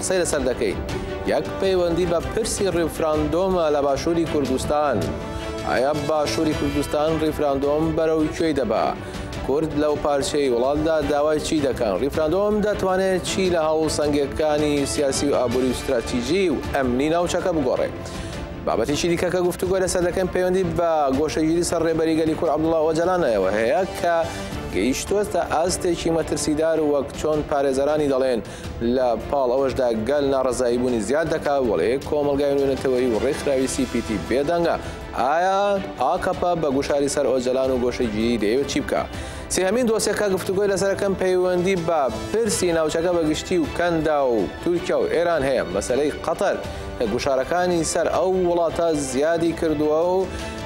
قسەی لەسەر دەکەین یەک پەیوەندی بە پرسی ڕیفراندۆمە لە باشووری کوردستان ئایا باشووری کوردستان ڕیفراندۆم بەرەو کوێی دەبا کورد لەو پارچەی وڵاتدا داوای چی دەکەن ڕیفراندۆم دەتوانێت چی لە هەوڵ سەنگەکانی سیاسی و ئابووری و ستراتیژی و ئەمنی ناوچەکە بگۆڕێت بابەتیی دیکە کە گفتوگۆ لەسەر دەکەن پەیوەندی بە گۆشەگیری سەر ڕێبەری گەلی کورد عەبدوڵڵا ئۆجالانەوە هەیە کە گەیشتووەتە ئاستێکی مەترسیدار و وەک چۆن پارێزەرانی دەڵێن لە پاڵ ئەوەشدا گەل ناڕزایی بوونی زیاد دەکا وڵێ کۆمەلگای نوێنەتەوەی و ڕێکخراوی سیپیتی بێدەنگە ئایا ئاکەپە بە گوشاری سەر ئۆجەلان و گۆشەگیری دەیەوێت چی بکە سێهمین دۆسیەکە گفتوگۆی لەسەرەکەم پەیوەندی بە پرسی ناوچەکە بە گشتی و کەندا و تورکیا و ئێران هەیە مەسلەی قەتەر کە گوشارەکانی سەر ئەو وڵاتە زیادی کردووە و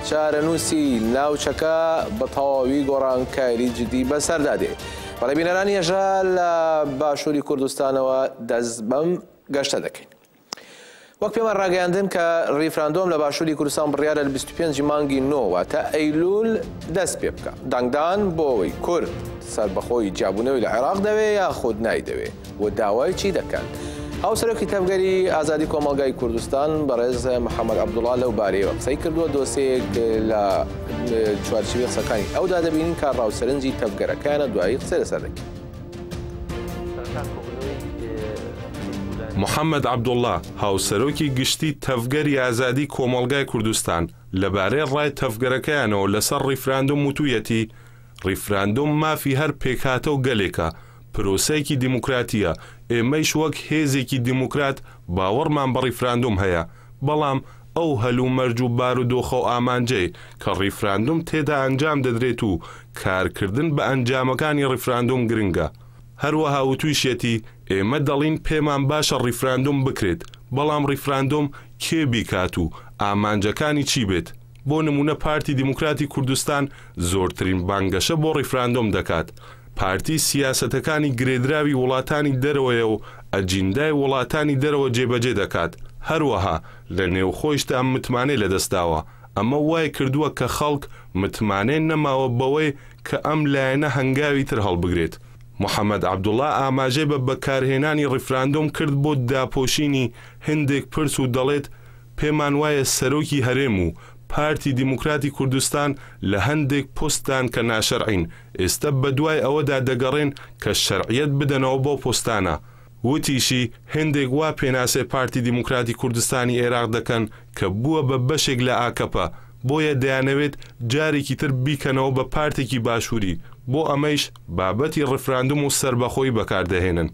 چارەنووسی ناوچەکە بە تەواوی گۆڕانکاری جدی بەسەردا دێت. بەڵێ بینەرانی هەژا لە باشووری کوردستانەوە دەست بەم گەشتە دەکەین. وەک پێمان ڕاگەیاندن کە ڕیفراندۆم لە باشووری کوردستان بڕیارە لە 25 مانگی نۆوە تا ئەیلول دەست پێ بکە دەنگدان بۆ ئەوەی کورد سەربەخۆی جیابوونەوەی لە عێراق دەوێ یاخود نایدەوێ و داوای چی دەکات؟ هاوسەرۆکی تەڤگەری ئازادی کۆمەڵگای کوردستان بەڕێز محەممەد عەبدوڵا لەو بارەیەوە قسەی کردووە دۆسەیەک لە چوارچوی قسەکانی ئەودا دەبینین کە ڕاو سەرنجی تەڤگەرەکانە دوایی قسە لەسەر دەکەین. محەممەد عەبدوڵا، هاوسەرۆکی گشتی تەڤگەری ئازادی کۆمەڵگای کوردستان لەبارەی ڕای تەڤگەرەکەیانەوە لەسەر ڕیفراندۆم وتوویەتی، ڕیفراندۆم مافی هەر پێکهاتە و گەلێکە، پرۆسەیەکی دیموکراتییە، ئێمەیش وەک هێزێکی دیموکرات باوەڕمان بە ڕیفراندۆم هەیە، بەڵام ئەو هەلومەرج و بارودۆخە و ئامانجەی کە ڕیفراندۆم تێدا ئەنجام دەدرێت و کارکردن بە ئەنجامەکانی ڕیفراندۆم گرنگە. هەروەها وتوویشیەتی، ئێمە دەڵین پێمان باشە ڕیفراندۆم بکرێت، بەڵام ڕیفراندۆم کێ بیکات و ئامانجەکانی چی بێت؟ بۆ نموونە پارتی دیموکراتی کوردستان زۆرترین بانگەشە بۆ ڕیفراندۆم دەکات، پارتی سیاسەتەکانی گرێدراوی وڵاتانی دەرەوەیە و ئەجیندای وڵاتانی دەرەوە جێبەجێ دەکات، هەروەها لە نێوخۆیشدا متمانەی لەدەستداوە، ئەمە وایکردووە کە خەڵک متمانەیان نەماوە بەوەی کە ئەم لایەنە هەنگاوی تر هەڵبگرێت. محەمەد عەبدوڵا ئاماژەی بە بەکارهێنانی ڕیفراندۆم کرد بۆ داپۆشینی هەندێک پرس و دەڵێت، پێمان وایە سەرۆکی هەرێم و پارتی دیموکراتی کوردستان لە هەندێک پۆستدان کە ناشەرعین، ئێستە بەدوای ئەوەدا دەگەڕێن کە شەرعیەت بدەنەوە بەو پۆستانە. وتیشی، هێندێک وا پێناسەی پارتی دیموکراتی کوردستانی ئێراق دەکەن کە بووە بە بەشێک لە ئاکەپە، بۆیە دەیانەوێت جارێکی تر بیکەنەوە بە پارتێکی باشووری، بۆ ئەمەیش بابەتی ڕیفراندوم و سەربەخۆیی بەکاردەهێنن.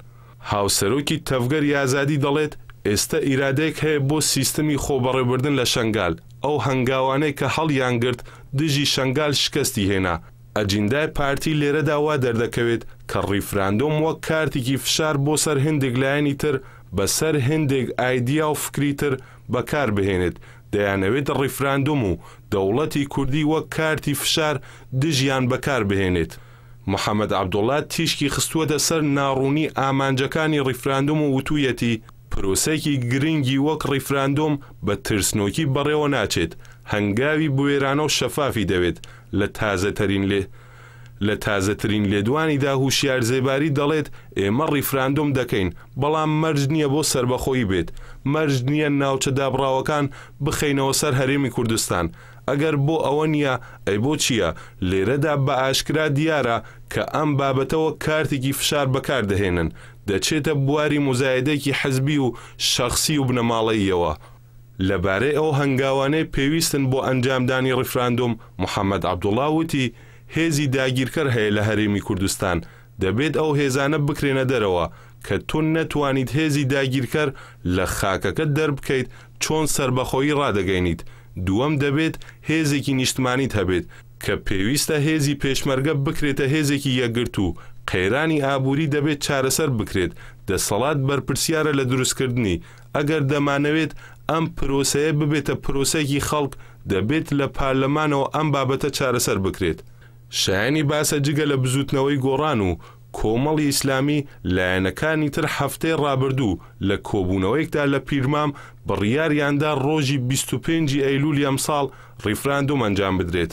هاوسەرۆکی تەڤگەر یازادی دەڵێت، ئێستە ئیرادەیەک هەیە بۆ سیستمی خۆبەڕێوبردن لە شەنگال، ئەو هەنگاوانەی کە هەڵیانگرت دژی شەنگال شکستی هێنا، ئەجیندای پارتی لێرەدا وا دەردەکەوێت کە ڕیفراندۆم وەک کارتیکی فشار بۆ سەر هێندێک لایەنی تر بە سەر هێندێک ئایدیا و فکری تر بەکار بهێنێت دەیانەوێت ڕیفراندۆم و دەوڵەتی کوردی وەک کارتی فشار دژیان بەکار بهێنێت. محەمەد عەبدوڵا تیشکی خستووەتە سەر ناڕوونی ئامانجەکانی ڕیفراندۆم و وتوویەتی، پرۆسەیەکی گرنگی وەک ڕیفراندۆم بە ترسنۆکی بەڕێوە ناچێت، هەنگاوی بوێرانە و شەفافی دەوێت، لە تازەترین لە تازەترین لێدوانیدا هوشیار زێباری دەڵێت، ئێمە ڕیفراندۆم دەکەین، بەڵام مەرج نییە بۆ سەربەخۆیی بێت، مەرج نییە ناوچە دابڕاوەکان بخەینەوە سەر هەرێمی کوردستان، ئەگەر بۆ ئەوە نییە، ئەی بۆ چییە؟ لێرەدا بە ئاشکرا دیارە کە ئەم بابەتە وەک کارتێکی فشار بەکار دەهێنن، دەچێتە بواری موزایەدەیەکی حزبی و شەخسی و بنەماڵەییەوە. لە بارەی ئەو هەنگاوانەی پێویستن بۆ ئەنجامدانی ڕیفراندۆم، محەمەد عەبدوڵا وتی، هێزی داگیرکەر هەیە لە هەرێمی کوردستان، دەبێت ئەو هێزانە بکرێنە دەرەوە کە تۆ نەتوانیت هێزی داگیرکەر لە خاکەکەت دەربکەیت، چۆن سەربەخۆیی ڕادەگەینیت؟ دووەم دەبێت هێزێکی نیشتمانیت هەبێت کە پێویستە هێزی پێشمەرگە بکرێتە هێزێکی یەکگرتوو، قەیرانی ئابووری دەبێت چارەسەر بکرێت، دەسەڵات بەرپرسیارە لە دروستکردنی، ئەگەر دەمانەوێت ئەم پرۆسەیە ببێتە پرۆسەیەکی خەڵک دەبێت لە پارلەمانەوە ئەم بابەتە چارەسەر بکرێت. شایەنی باسە جگە لە بزووتنەوەی گۆڕان و کۆمەڵی ئیسلامی، لایەنەکانی تر هەفتەی ڕابردوو لە کۆبوونەوەیەکدا لە پیرمام بڕیاریان دا ڕۆژی بیست و پێنج ی ئەیلوولی ئەمساڵ ڕیفراندۆم ئەنجام بدرێت.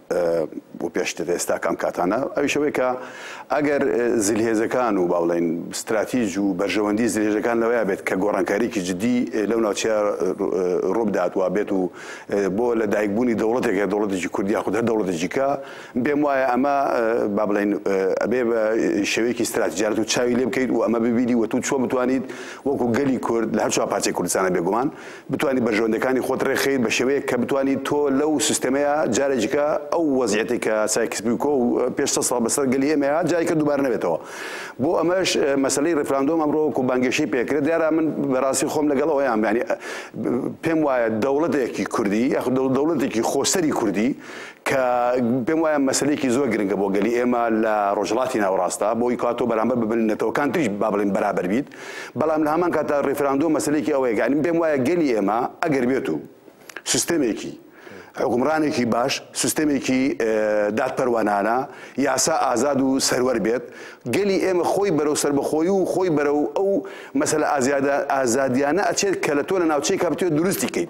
بۆ پێشتر ئێستا کام کاتانە ئەویش ئەوەی کە ئەگەر زلهێزەکان و با بڵێن ستراتیج و بەرژەوەندی زلهێزەکان لەوەیە بێت کە گۆڕانکاریکی جدی لەو ناوچە ڕووبدات وا بێت و بۆ لە دایکبوونی دەوڵەتێک هەیە دەوڵەتێکی کوردیا خود هەر دەوڵەتێکی کە بێم وایە ئەمە با بڵێن ئەبێ بە شێوەیەکی ستراتیجارەت و چاوی لێ بکەیت و ئەمە ببینی وە تو چۆن بتوانیت وەکو گەلی کورد لە هەر چوار پارچەی کوردستانە بێگومان بتوانی بەرژەوەندیەکانی خۆت ڕێکخەیت بە شێوەیەک کە بتوانی تۆ لەو سیستەمەیا جارێکی دیکە ئەو وەزعیەتەی کە سایکس بیکۆ و پێش سەد ساڵ بەسەر گەلی ئێمە هات جاری کە دووبارە نەبێتەوە بۆ ئەمەش مەسەلەی ڕیفراندۆم ئەمڕۆ وەکو بانگێشەی پێکرێت دیارە من بەڕاستی خۆم لەگەڵ ئەوەیان ینی پێم وایە دەوڵەتێکی کوردی یاخود دەوڵەتێکی خۆسەری کوردی کە پێم وایە مەسلەیەکی زۆر گرنگە بۆ گەلی ئێمە لە ڕۆژهڵاتی ناوڕاستە بۆ ئیکا تۆ بەرامبەر ببن نەتەوەکان تریش با بڵین بەرابەر بیت بەڵام لە هەمان کاتە ڕێفراندۆ مەسلێکی ئەوەیە گەنیم پێم وایە گەلی ئێمە ئەگەر بێت و سیستەمێکی حکومڕانێکی باش سیستەمێکی دادپەروانانە یاسا ئازاد و سەروەر بێت گەلی ئێمە خۆی بەرەو سربەخۆی و خۆی بەرەو ئەو مەسەل ئازیادە ئازادیانە ئەچێت کە لە تۆ لە ناوچەی کاپتێ دروستی کەیت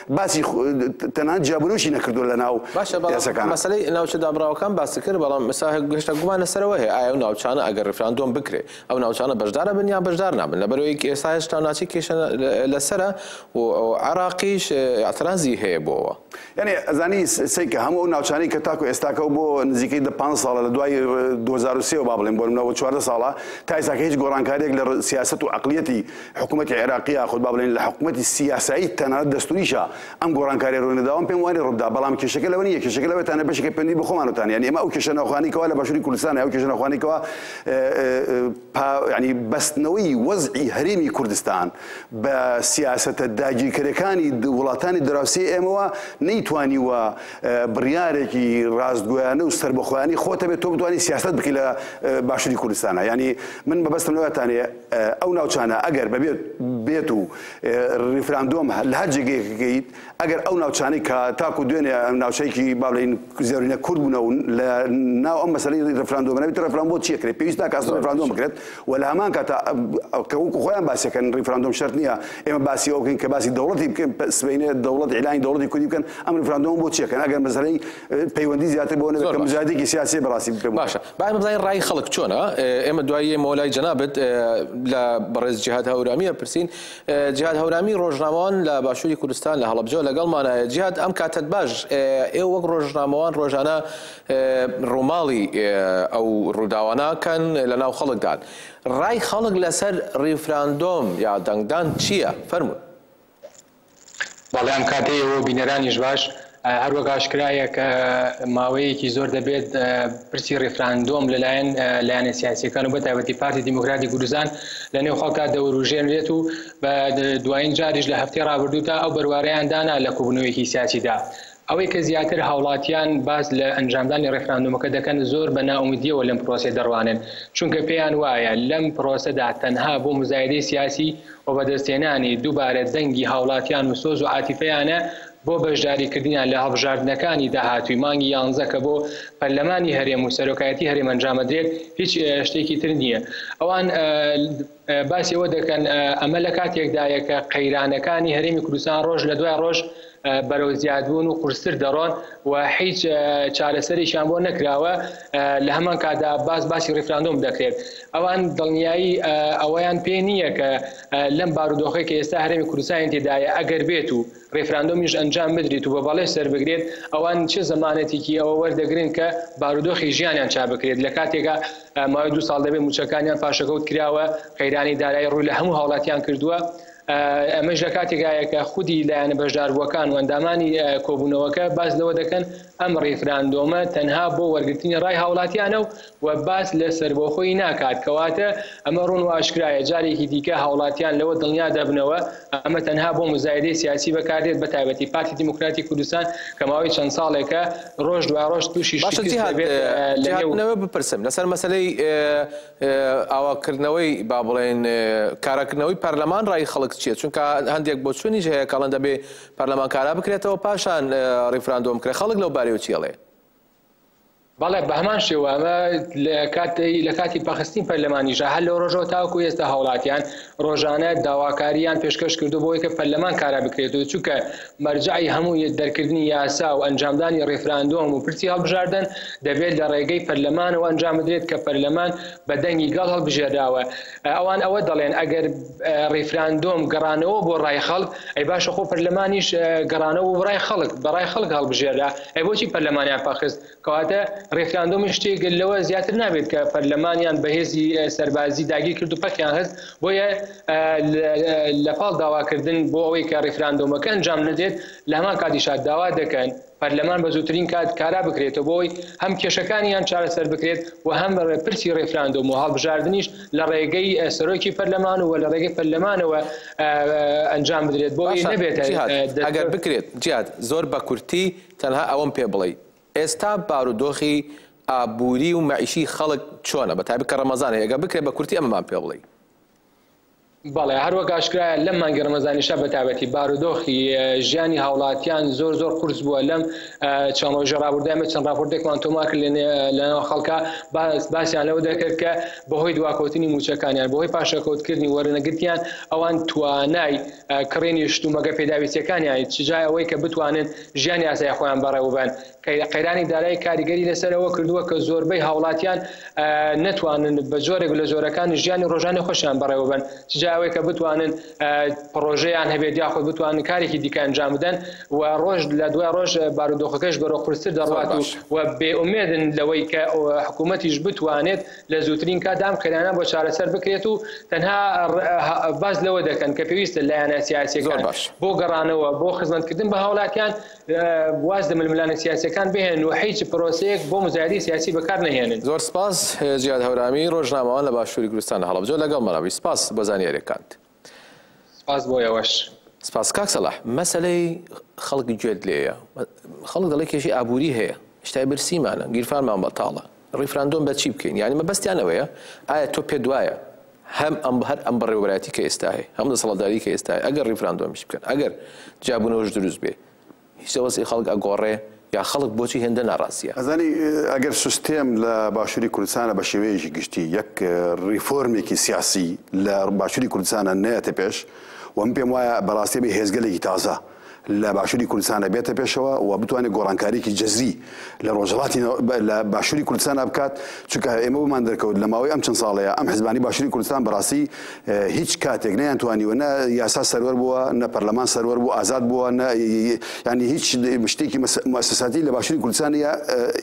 باسی تەنان جیابونوشی نەکردو لە ناو باشەکان مەسلەی ناوچە دابراوەکان باسی کرد بەڵام مساهک گەشتە گومانە سەرەوە هەیە ئایا و ناوچانە ئەگەر ڕفراندۆم بکرێ ئەو ناوچانە بەشدارە بن یان بەشدار نابن لە بەرەوەی ئێستا هێشتا ناچی کێشە لەسرە و عراقیش ئەترازی هەیە بۆەوە یعنی ئەزانی سیکە هەموو ناوچانی کە تاکو ئێستاکە بۆ نزیکەی دە پ ساڵە لە دوای 2023 با بڵێن بۆ منەوە چوار ساڵە تا ئێستاکە هیچ گۆڕانکاریێک لە سیاست و عقلیەتی حکومەتی عێراقی یاخود با بڵێین لە حکومەتی سیاسایی تەنانەت دەستووریشا ئەم گۆڕانکاریە ڕووی نەداوە پێم وانێ ڕووبدا بەڵام کێشەکە لەوە نییە کێشەکە لەوە تانە بەشێکی پەیوەندی بە خۆمانتان یانی ئێمە ئەو کێشە ناوخوانی کەوا لە باشووری کوردستان ئەو کێشە ناوخوانی کەوا ینی بەستنەوەی وەزعی هەرێمی کوردستان بە سیاسەتە داگیرکەرەکانی وڵاتانی دراوسی ئێمەوە نەیتوانی وە بڕیارێکی ڕاستگویانە و سربەخۆیانی خۆتە بێت تۆ بتوانانی سیاست بکە لە باشووری کوردستانە ینی من بەبستم لەوەتانێ ئەو ناوچانە ئەگەر بەبێت بێت و ریفراندۆم لە هەر جێگەیەک بکەیت، ئەگەر ئەو ناوچانەی کە تاکو دوێنێ ناوچەیەکی با بڵێین زۆرینە کورد بوونە و لە ناو ئەم مەسەلەی ریفراندۆمە نەبێت، ریفراندۆم بۆ چییە کرێت؟ پێویست ناکات ئەسڵەن ریفراندۆم بکرێت و لە هەمان کاتا کە وەکو خۆیان باس دەکەن ریفراندۆم شەرت نییە ئێمە باسی ئەوە بکەین کە باسی دەوڵەتی بکەین، سبەینێ دەوڵەت ئیعلانی دەوڵەتی کوردی بکەن، ئەم ریفراندۆمە بۆ چی ئەکەن ئەگەر مەسەلەی پەیوەندی زیاتر بۆ نەبێت کە مزادێکی سیاسی بەڕاستی بکەم باشە با ئێمە بزانین ڕای خەڵک چۆنە ئێمە دوایی ئێمەوە لای جەنابت لە بەڕێز جهاد هەورامیە پرسین جهاد هەورامی ڕۆژنامەوان لە باشووری کوردستان لە هەڵبجە لەگەڵمانایە جهاد ئەم کاتت باش ئێ وەک ڕۆژنامەوان ڕۆژانە ڕووماڵی ئەو ڕووداواناکەن لە ناو خەڵکدان ڕای خەڵک لەسەر ڕیفراندۆم یا دەنگدان چییە فەرمونون بەڵام کاتێ ئێوەو بینەرانیش باش هەروەک ئاشکرایە کە ماوەیەکی زۆر دەبێت پرسی ڕیفراندۆم لەلایەن لایەنە سیاسیەکان و بە تایبەتی پارتی دیموکراتی کوردستان لە نێو خەڵکا دەوروژێنرێت و بە دوایین جاریش لە هەفتەی ڕابردوودا ئەو بەروارەیان دانا لە کۆبوونەوەیەکی سیاسیدا ئەوەی کە زیاتر هاوڵاتیان باس لە ئەنجامدانی ڕێفراندۆمەکە دەکەن زۆر بە نائومدییەوە لەم پرۆسەیە دەڕوانن، چونکە پێیان وایە لەم پرۆسەدا تەنها بۆ موزایدەی سیاسی و بەدەستهێنانی دووبارە دەنگی هاوڵاتیان و سۆز و عاتیفەیانە بۆ بەشداریکردنیان لە هەڵبژاردنەکانی داهاتووی مانگی یانزە کە بۆ پەرلەمانی هەرێم و سەرۆکایەتی هەرێم ئەنجامەدرێت هیچ شتێکی تر نییە ئەوان باسی ئەوە دەکەن ئەمە لە کاتێکدایە کە قەیرانەکانی هەرێمی کوردستان ڕۆژ لە دوای ڕۆژ بەرەو زیادبوون و قورستر دەڕۆن و هیچ چارەسەرێکیان بۆ نەکراوە لە هەمان کاتدا باس باسی ڕیفراندۆم دەکرێت ئەوان دڵنیایی ئەوەیان پێ نییە کە لەم بارودۆخی کە ئێستا هەرێمی کوردستانی تێدایە ئەگەر بێت و ریفراندۆمیش ئەنجام بدریت و بە بەڵێ سەربگرێت، ئەوان چ زەمانەتیکی ئەوە وەردەگرن کە بارودۆخی ژیانیان چابکرێت لە کاتێکا ماوەی دوو ساڵ دەبێت مووچەکانیان پاشەکەوت کراوە، قەیرانی دارایی رووی لە هەموو هاوڵاتیان کردووە، ئەمەش لە کاتێکایە کە خودی لایەنە بەشداربووەکان و ئەندامانی کۆبوونەوەکە باس لەوە دەکەن ئەم ریفراندۆمە تەنها بۆ وەرگرتنی رای هاوڵاتیانە و و باس لە سەربەخۆیی ناکات، کەواتە ئەمە ڕوون و ئاشکرایە جارێکی دیکە هاوڵاتیان لەوە دڵنیا دەبنەوە ئەمە تەنها بۆ موزایدەی سیاسی بەکار دێت بەتایبەتی پارتی دیموکراتی کوردستان کە ماوەی چەند ساڵێکە ڕۆژ دوای ڕۆژ توشی شکست دەبێت لە نێو باشە جیهاد جیهاد بپرسم لەسەر مەسەلەی ئاواکردنەوەی با بڵێین کاراکردنەوەی پەرلەمان ڕای خەڵک چیە چونکە هەندێک بۆچونیش هەیە کە ئەڵێن دەبێ پەرلەمان کارا بکرێتەوە پاشان ڕیفراندۆم بکرێت خەڵک لەو بارەیەوە چی ئەڵێ؟ بەڵێ بەهەمان شێوە ئەمە لە کاتی پەخستین پەرلەمانیشە هەر لەو ڕۆژەوە تاوەکو ئێستا هاوڵاتیان ڕۆژانە داواکاریان پێشکەش کردو بۆی کە پەرلەمان کارا بکرێت و چونکە مەرجعی هەموو دەرکردنی یاسا و ئەنجامدانی ڕیفراندۆم و پرسی هەڵبژاردن دەبێت لە ڕێگەی پەرلەمانەوە ئەنجام بدرێت کە پەرلەمان بە دەنگی گەڵ هەڵبژێراوە ئەوان ئەوە دەڵێن ئەگەر ڕیفراندۆم گەڕانەوە بۆ ڕای خەڵک ئەی باشە خۆ پەرلەمانیش گەڕانەوە بۆ ڕای خەڵک بەڕای خەڵک هەڵبژێرا ئەی بۆچی پەرلەمانیان پاخست کەواتە ڕیفراندۆمی شتێک لەوە زیاتر نابێت کە پەرلەمانیان بەهێزی سەربازی داگیر کرد و پەکیان هەست بۆیە لە پاڵ داواکردن بۆ ئەوەی کە ڕیفراندۆمەکە ئەنجام نەدرێت لە هەمان کاتیشا داوا دەکەن پەرلەمان بە زووترین کات کارا بکرێتەوە بۆ ئەوەی هەم کێشەکانیان چارەسەر بکرێت و هەم پرسی ڕیفراندۆم و هەڵبژاردنیش لە ڕێگەی سەرۆکی پەرلەمان و لە ڕێگەی پەرلەمانەوە ئەنجام بدرێت بۆ ئەوەی نەبێتە دەستکەوت. باشە جیهاد، ئەگەر بکرێت، جیهاد، زۆر بە کورتی تەنها ئەوەم پێ بڵێی ئێستا بارودۆخی ئابووری و مەعیشی خەڵک چۆنە بە تایبەت کە ڕەمەزانە ئەگەر بکرێت بە کورتی ئەمەمان پێ بڵێی. بەڵێ هەروەک ئاشکرایە لەم مانگی ڕەمەزانیشا بەتابەتی بارودۆخی ژیانی هاوڵاتیان زۆر زۆر قرس بووە لەم چەند ڕۆژە ڕابوردامە چەند ڕاپۆرتێکمان تۆمار کرد لەناو خەڵکە باسیان لەوە دەکرد کە بەهۆی دواکەوتنی موچەکانیان بەهۆی پاشەکەوتکردنی وەرنەگرتیان ئەوان توانای کڕینی شتومەکە پێداویستیەکانیان چجای ئەوەی کە بتوانن ژیانی ئاسای خۆیان بەڕێوەبەن قەیرانی دارایی کاریگەری لەسەر ئەوە کردووە کە زۆربەی هاوڵاتیان نەتوانن بە جۆرێک لە جۆرەکانی ژیانی ڕۆژانەی خۆشیان بەڕێوەبەن، چ جا ئەوەی کە بتوانن پڕۆژەیان هەبێت یاخود بتوانن کارێکی دیکە ئەنجام بدەن و ڕۆژ لە دوای ڕۆژ بارودۆخەکەش بەرەو قورستر دەڕوات و بێ ئومێدن لەوەی کە حکوومەتیش بتوانێت لە زووترین کاتدا ئەم قەیرانە بۆ چارەسەر بکرێت و تەنها باس لەوە دەکەن کە پێویستە لایەنە سیاسییەکان بۆ گەڕانەوە بۆ خزمەتکردن بە هاوڵاتیان واز لە ململانێ سیاسیەکان بهێنن و هیچ پرۆسەیەک بۆ مزایدەی سیاسی بەکار نەهێنن. زۆر سپاس جیاد هەورامی ڕۆژنامەوان لە باشووری کوردستان لە هەڵەبجە لەگەڵمانە بووی سپاس بۆ زانیاریەکانت. سپاس بۆ ئێوەش. سپاس کاک سەلاح مەسەلەی خەڵک گوێت لێیە خەڵک دەڵێ کێشەی ئابووری هەیە شتای برسیمانە گیرفانمان بەتاڵە ڕیفراندۆم بە چی بکەین یانی مەبەستیان ئەوەیە ئایا تۆ پێت وایە هەم ئەم هەر ئەم بەڕێوەبەرایەتی کە ئێستا هەیە هەم دەسەڵاتداری کە ئێستا هەیە ئەگەر ڕیفراندۆمیش بکەن ئەگەر جیابوونەوەش دروست بێ هیچ وەزعی خەڵک ئەگۆڕێ یا خەڵک بۆچی هێندە ناڕاستییە ئەزانی ئەگەر سیستێم لە باشووری کوردستانە بە شێوەیەکی گشتی یەک ڕیفۆرمێکی سیاسی لە باشووری کوردستانە نەیەتە پێش وەم پێم وایە بەڕاستێ بێ هێزگەلێکی تازە لە باشوری کوردستانا بێتە پێشەوە و بتوانێت گۆڕانکاریکی جەزری لە ڕۆژهڵاتی لە باشوری کوردستانا بکات چونکە ئێمە بمان دەرکەوت لە ماوەی ئەم چەند ساڵەیە ئەم حزبانی باشوری کوردستان بەڕاستی هیچ کاتێک نیان توانیوە نە یاسا سەروەر بووە نە پەرلەمان سەروەر بوو ئازاد بووە نە ینی هیچ شتێکی مەسەساتی لە باشوری کوردستانی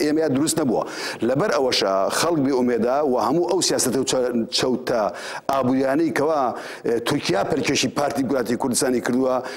ئێمە دروست نەبووە لەبەر ئەوەشە خەڵک بێ ئومێدا و هەموو ئەو سیاستە و چەوتە ئابووریانەی کەوا تورکیا پەرکێشی پارتی گوراتی کوردستانی کردووە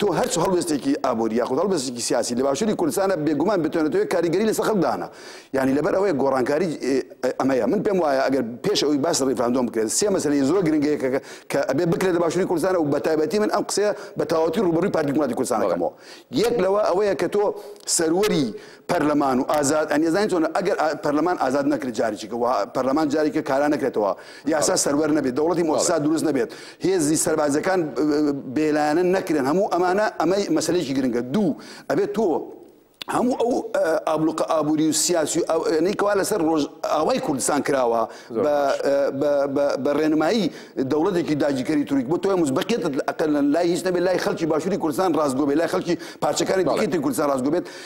تۆ هەر چ هەڵوێستێکی ئابووری یاخود هەڵوێستێکی سیاسی لە باشووری کوردستانە بێگومان بتوانێتەوە کاریگەری لەسەر خەڵک دانا یانی لەبەر ئەوەیە گۆڕانکاری ئەمەیە من پێم وایە ئەگەر پێش ئەوی باس ڕیفراندۆم بکرێت سێ مەسەلەی زۆر گرنگەیە کە ئەبێ بکرێت لە باشووری کوردستانە و بە تایبەتی من ئەم قسەیە بە تەواوەتی ڕووبەڕووی پارتی دیموکراتی کوردستان دەکەمەوە یەک لەوە ئەوەیە کە تۆ سەروەری پەرلەمان و ئازاد ئەنیێزانین چۆنە ئەگەر پەرلەمان ئازاد نەکرێت جارێکیکە و پەرلەمان جارێکە کارا نەکرێتەوە یاسا سەروەر نەبێت دەوڵەتی مۆسا دروست نەبێت هێزی سەربازەکان بێلایەنە نەکرێن هەموو ئەمانە ئەمەی مەسلێکی گرنگە دوو ئەبێت تۆ هەموو ئەو ئابلوقە ئابووری و سیاسی ئەوەنەیکەوا لەسەر ڕۆژ ئاوای کوردستان کراوە بە ڕێنمایی دەوڵەتێکی داگیکەری توریک بۆ تۆی مزبقێت ئەقل لای هیچ نەبێت لای خەڵکی باشووری کوردستان ڕاستگۆبێت لای خەڵکی پارچەکانی بڵێتی کوردستان ڕاستگۆبێت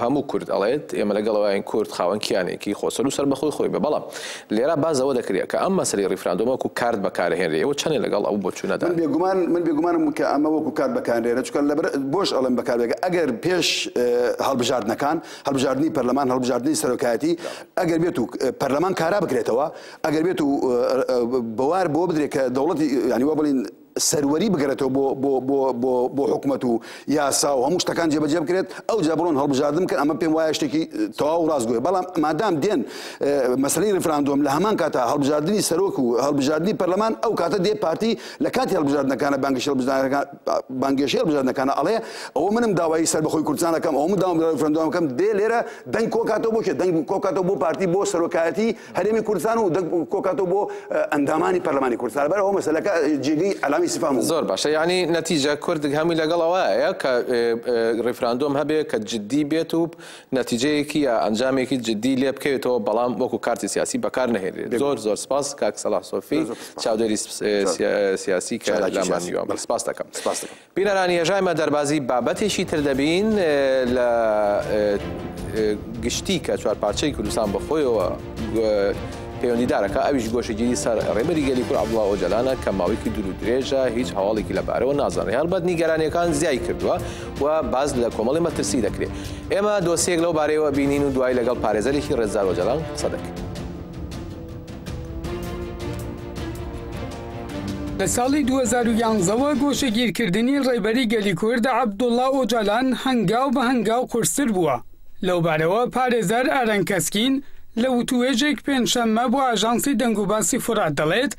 هەموو کورد ئەڵێت ئێمە لەگەڵەوەین کورد خاوەن کیانێکی خۆسەر و سەربەخۆی خۆی بێ بەڵام لێرا باس لەوە دەکرێت کە ئەم مەسەلەی ڕیفراندۆم وەکو کارت بەکارهێنرێ ئێوە چەنێ لەگەڵ ئەو بۆچوونەدان من بێگومان من بێگومانم کە ئەمە وەکو کارت بەکارهێنرێ چونکە لەبەر بۆش ئەڵێم بەکاربێت ئەگەر پێش هەڵبژاردنەکان هەڵبژاردنی پەرلەمان هەڵبژاردنی سەرۆکایەتی ئەگەر بێت و پەرلەمان کارا بکرێتەوە ئەگەر بێت و بەوار بۆ بدرێت کە دەوڵەتی یانیوە بڵین سەروەری بگەرێتەوە بۆ بۆ بۆ بۆ بۆ حکومەت و یاسا و هەموو شتەکان جێبەجێ بکرێت ئەو جا بڕۆن هەڵبژاردن بکەن ئەمە پێم وایە شتێکی تەواو ڕاستگۆیە بەڵام مادام دێن مەسلەی ریفراندۆم لە هەمان کاتا هەڵبژاردننی سەرۆک و هەڵبژاردننی پەرلەمان ئەو کاتە دێ پارتی لە کاتی هەڵبژاردنەکانە بانگشە بزانەکان بانگێشی هەڵبژاردنەکانە ئەڵێ ئەوە منم داوایی سەر بەخۆی کوردستانەکەم ئەو مداوام ریفراندۆمەکەم دێ لێرە دەنگ کۆکاتەوە بۆ کێ دەنگ کۆکاتەوە بۆ پارتی بۆ سەرۆکایەتی هەرێمی کوردستان و دەک کۆکاتەوە بۆ ئەندامانی پەرلەمانی کوردستان لەبەر ئەوە مەسەلەکە جێگەی ئەلامی سفام زۆر باشە یعنی نەتیجە کورد هەمووی لەگەڵ ئەوەیە کە ڕیفراندۆم هەبێ کە جددی بێت و نەتیجەیەکی یا ئەنجامێکی جددی لێ بکەوێتەوە بەڵام وەکو کارتی سیاسی بەکار نەهێنرێت زۆر زۆر سپاس کاک سەلاح سۆفی چاودێری سیاسی کە لامان نیوە سپاس دەکەم سپاس دەکەم بینەرانی هێژای مە دەربازی بابەتێکی تر دەبین لە گشتی کە چوار پارچەی کوردستان بەخۆیەوە پەیوەندیدارەکە ئەویش گۆشەگیری سەر ڕێبەری گەلی کور عبدڵا ئۆجەلانە کە ماوەیەکی دوور درێژە هیچ هەواڵێکی لەبارەوە نازانێت هەڵبەت نیگەرانیەکان زیای کردووە و باز لە کۆمەڵی مەترسی دەکرێت ئێمە دۆسیەک لەو بارەیەوە بینین و دوای لەگەڵ پارێزەرێکی ڕێزدار ئۆجەلان قسە دەکرێت. لە ساڵی دوو هەزار و یانزە وە گۆشەگیرکردنی ڕێبەری گەلی کورد عەبدوڵا ئۆجالان هەنگاو بە هەنگاو قورستر بووە، لەو بارەوە پارێزەر ئارەن کەسکین لە وتووێژێک پێنجشەممە بۆ ئاژانسی دەنگوباسی فورات دەڵێت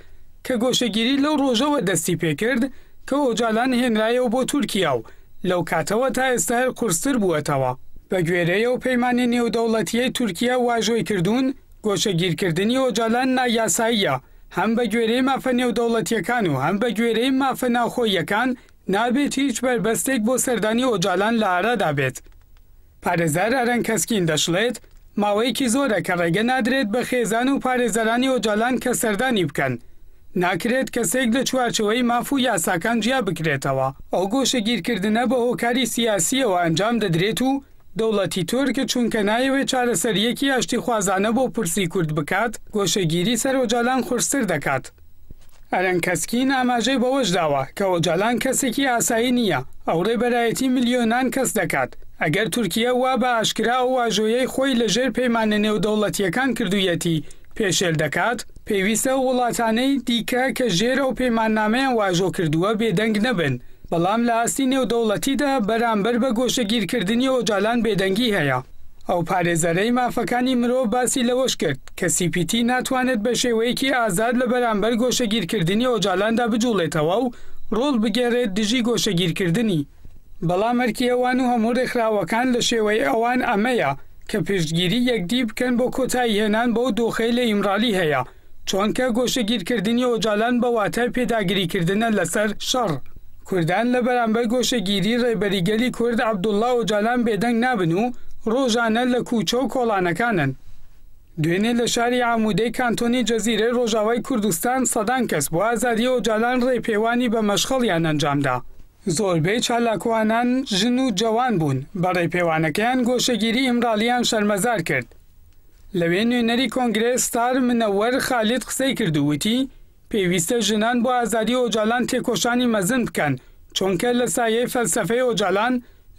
کە گۆشەگیری لەو ڕۆژەوە دەستی پێکرد کە ئۆجالان هێنرایەوە بۆ تورکیا و لەو کاتەوە تا ئێستا هەر قورستر بووەتەوە. بەگوێرەی ئەو پەیمانی نێودەوڵەتییەی تورکیا واژۆی کردوون، گۆشەگیرکردنی ئۆجالان نایاساییە، هەم بە گوێرەی مافە نێودەوڵەتییەکان و هەم بە گوێرەی مافە ناوخۆییەکان نابێت هیچ بەربەستێک بۆ سەردانی ئۆجالان لە ئارادا بێت. پارێزەر ئەرەن کەسکین دەشڵێت، ماوەیەکی زۆرە کە ڕێگە نادرێت بە خێزان و پارێزەرانی ئۆجالان کە سەردانی بکەن، ناکرێت کەسێک لە چوارچێوەی ماف و یاساکان جیا بکرێتەوە، ئەو گۆشەگیرکردنە بە هۆکاری سیاسییەوە ئەنجام دەدرێت و دەوڵەتی تورک چونکە نایەوێت چارەسەرییەکی ئاشتیخوازانە بۆ پرسی کورد بکات، گۆشەگیری سەر ئۆجالان قورستر دەکات. ئەرەن کەسکین ئاماژەی بەوەش داوە کە ئۆجالان کەسێکی ئاسایی نییە، ئەو رێبەرایەتی ملیۆنان کەس دەکات، ئەگەر تورکیە وا بە ئاشکرا ئەو واژۆیەی خۆی لە ژێر پەیمانە نێودەوڵەتییەکان کردوویەتی پێشێل دەکات، پێویستە ئەو وڵاتانەی دیکە کە ژێر ئەو پەیماننامەیان واژۆ کردووە بێدەنگ نەبن. بەڵام لە ئاستی نێودەوڵەتیدا بەرامبەر بە گۆشەگیرکردنی ئۆجالان بێدەنگی هەیە. ئەو پارێزەرەی مافەکانی مرۆڤ باسی لەوەش کرد کە سی پی تی ناتوانێت بە شێوەیەکی ئازاد لە بەرامبەر گۆشەگیرکردنی ئۆجالاندا بجوڵێتەوە و ڕۆڵ بگێڕێت دژی گۆشەگیرکردنی، بەڵام ئەرکی ئەوان و هەموو ڕێکخراوەکان لە شێوەی ئەوان ئەمەیە کە پشتگیری یەکدی بکەن بۆ کۆتاییهێنان بەو دۆخەی لە ئیمرالی هەیە. چۆنکە گۆشەگیرکردنی ئۆجالان بە واتای پێداگریکردنە لەسەر شەڕ، کوردان لە بەرامبەر گۆشەگیری ڕێبەری گەلی کورد عەبدوڵا ئۆجالان بێدەنگ نابن و ڕۆژانە لە کووچە و کۆڵانەکانن. دوێنێ لە شاری عاموودەی کانتۆنی جزیرەی ڕۆژاوای کوردستان سەدان کەس بۆ ئازادی ئۆجالان ڕێپێوانی بە مەشخەڵیان ئەنجامدا، زۆربەی چالاکوانان ژن و جەوان بوون، بە ڕێپێوانەکەیان گۆشەگیری ئیمراڵییان شەرمەزار کرد. لەوێ نوێنەری کۆنگرە ستار منەوەر خالید قسەی کرد و وتی، پێویستە ژنان بۆ ئازادی ئۆجالان تێکۆشانی مەزن بکەن، چۆنکە لە سایەی فەلسەفەی ئۆجالان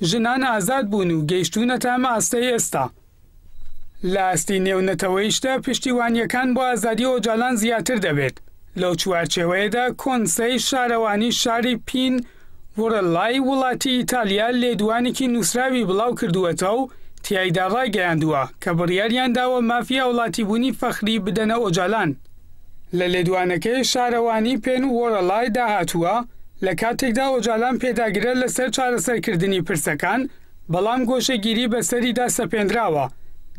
ژنان ئازاد بوون و گەیشتوونەتە ئەم ئاستەی ئێستا. لە ئاستی نێونەتەوەیشدا پشتیوانییەکان بۆ ئازادی ئۆجالان زیاتر دەبێت، لەو چوارچێوەیەدا کۆنسەی شارەوانی شاری پین، وڕلای وڵاتی ئیتالیا لێدوانێکی نووسراوی بڵاو کردووەتەوە و تیایدا ڕایگەیاندووە کە بڕیاریان داوە مافی هاوڵاتیبوونی فەخری بدەنە ئۆجالان. لە لێدوانەکەی شارەوانی پێن وڕلای دا هاتووە، لە کاتێکدا ئۆجالان پێداگرە لەسەر چارەسەرکردنی پرسەکان، بەڵام گۆشەگیری بەسەریدا سەپێندراوە.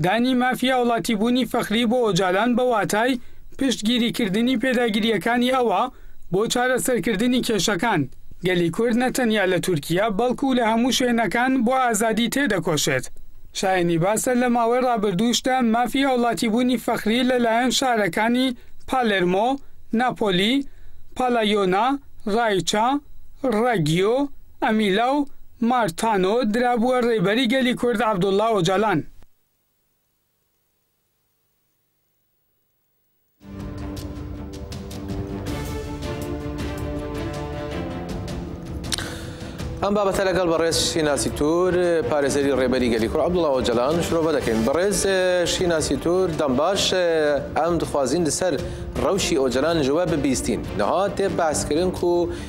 دانی مافی هاوڵاتیبوونی فەخری بۆ ئۆجالان بە واتای پشتگیریکردنی پێداگرییەکانی ئەوە بۆ چارەسەرکردنی کێشەکان. گەلی کورد نە تەنیا لە تورکیە بەڵکوو لە هەموو شوێنەکان بۆ ئازادی تێدەکۆشێت. شایەنی باسە لە ماوەی ڕابردووشدا مافی هاوڵاتیبوونی فەخری لە لایەن شارەکانی پالێرمۆ، ناپۆلی، پالایۆنا، ڕایچا، ڕەگیۆ، ئەمیلا و مارتانۆ درابووە ڕێبەری گەلی کورد عەبدوڵا ئۆجالان. ئەم بابەتە لەگەڵ بەڕێز شیناسی تور پارێزەری ڕێبەری گەلی کورد عەبدوڵا ئۆجەلان شرۆڤە دەکەین بەڕێز شیناسی تور دەم باش ئەم دخوازین لەسەر ڕەوشی ئۆجەلان جواب ببیستین نەها تێ باسکردن و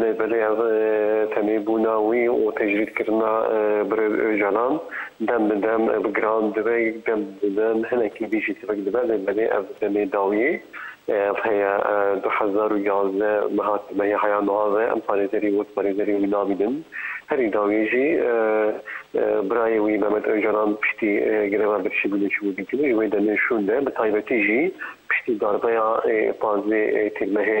لەبەرەی ئەڤ تەمەی بونا وی و تەجرید کردنا برێ ئۆجالان دەم بە دەم ئەڤ گران دبە یگ دەم بە دەم هەنەکی دیژی تڤک دبە لەبەرەی ئەڤ تەمەی داویەی ئەڤ هەیە دو هەزار و یازدە مەها تەمەی هەیا مەها ڤە ئەم پارێزەری وەک پارێزەری وی نابینن هەری داویەی ژی برای وی مەمەد ئۆجالان پشتی گرەڤە برشی بوی لەچوو بی تڤ ژ وەی دەمێ شوون دە بە تایبەتی ژی پشتی داربەیا پازدە تیر مەهێ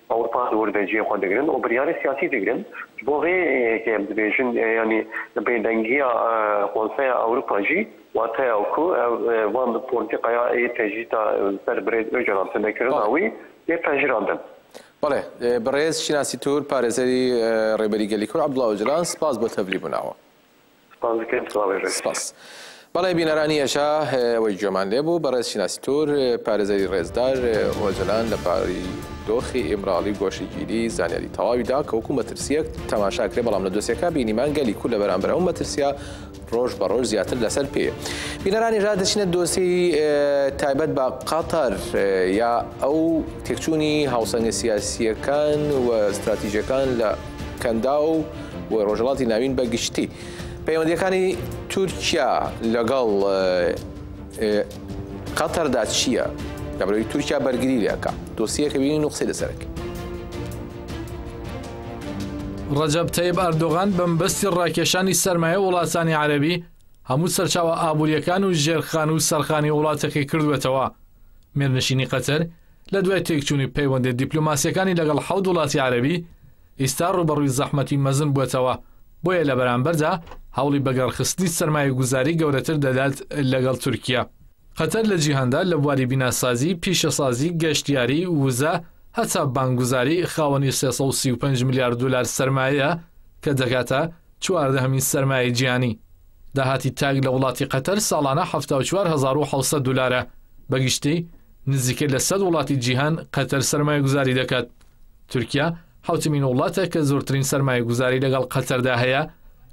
ئەوروپا زۆر بە جێ خۆ دەگرن و بریاری سیاسی دەگرن بۆ ڤێ یەکێ ببێژن یانی بێ دەنگیا خۆنسەیا ئەوروپا جی واتەیا و کو ڤان پۆلتیقەیا ئێ تەجدیتا سەر برێد ئۆجەلان تەنە کرنا وی ئێ پەژراندن. بەڵێ بەڕێز شیناسی تور پارێزەری ڕێبەری گەلی کورد عەبدوڵا ئۆجەلان سپاس بۆ تەڤلی بووناوە. سپاس دەکەم سڵاوی ڕێز. سپاس. بەڵێ بینەرانی ئێشە ئەوەی گوێمان لێ بوو بەڕێز شیناسی تور پارێزەری ڕێزدار ئۆجەلان لە باری دۆخی ئیمراڵی و گۆشەگیری زانیاری تەواوی دا کە وەکوو مەترسییەک تەماشا کرێ بەڵام لە دۆسیەکە بینیمان گەلی کورد لە بەرامبەر ئەو مەترسییە ڕۆژ بە ڕۆژ زیاتر لەسەر پێیە. بینەرانی ژا دەچینە دۆسی تایبەت بە قەتەر یا ئەو تێکچوونی هاوسەنگە سیاسییەکان و ستراتیژەکان لە کەنداو و ڕۆژهەڵاتی ناوین بە گشتی پەیوەندیەکانی تورکیا لەگەڵ قەتەردا چییە؟ لەبەرەوەی تورکیا بەرگری لەکە دۆسیەکە بینی نوقسی لەسەرەکە. ڕەجەب تەیب ئەردۆغان بەمبەستی ڕاکێشانی سەرمایە وڵاتانی عەربی هەموو سەرچاوە ئابووریەکان و ژێرخان و سەرخانی وڵاتەکەی کردوێتەوە مێرنشینی قەتەر لە دوای تێکچوونی پەیوەندیە دیپلۆماسیەکانی لەگەڵ حەوت وڵاتی عەرەبی، ئیستا ڕووبەڕووی زەحمەتی مەزن بووەتەوە، بۆیە لە بەرامبەردا هەوڵی بەگەڕخستنی سەرمایەگوزاری گەورەتر دەدات لەگەڵ تورکیا. قەتەر لە جیهاندا لە بواری بیناسازی، پیشەسازی، گەشتیاری، وزە، هەتا بانکگوزاری، خاوەنی سێ سەد و سی و پێنج ملیار دۆلار سەرمایەیە کە دەگاتە چواردەهەمین سەرمایەی جیهانی. داهاتی تاک لە وڵاتی قەتەر ساڵانە حەفتا و چوار هەزار و حەوت سەد دۆلارە بە گشتی، نزیکەی لە سەد وڵاتی جیهان قەتەر سەرمایەگوزاری دەکات. تورکیا حەوتمین وڵاتە کە زۆرترین سەرمایەگوزاری لەگەڵ قەتەردا هەیە،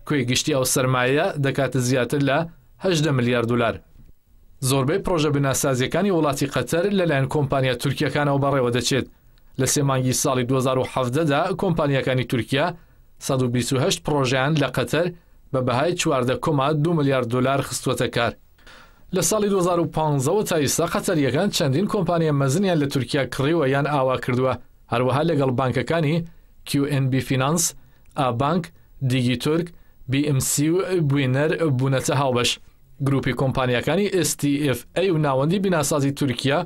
کۆی گشتی ئەو سەرمایەیە دەکاتە زیاتر لە هەژدە ملیار دولار. زۆربەی پڕۆژە بناسازییەکانی وڵاتی قەتەر لەلایەن کۆمپانیا تورکییەکانەوە بەڕێوە دەچێت، لە سێ مانگی ساڵی دوو هەزار و حەڤدە دا کۆمپانیاکانی تورکیا سەد و بیست و هەشت پڕۆژەیان لە قەتەر بە بەهای چواردە کۆما دوو ملیار دولار خستووەتە کار. لە ساڵی دوو هەزار و پازدە وە تا ئیستا قەتەرییەکان چەندین کۆمپانیا مەزنیان لە تورکیا کڕیوە یان ئاوا کردووە، هەروەها لەگەڵ بانکەکانی، کیو ئێن بی فینانس، ئابانک، دیگی تورک، بی ئم سی و بوینەر بوونەتە هاوبەش. گرووپی کۆمپانیاکانی ئێس تی ئێف ئەی و ناوەندی بیناسازی تورکیا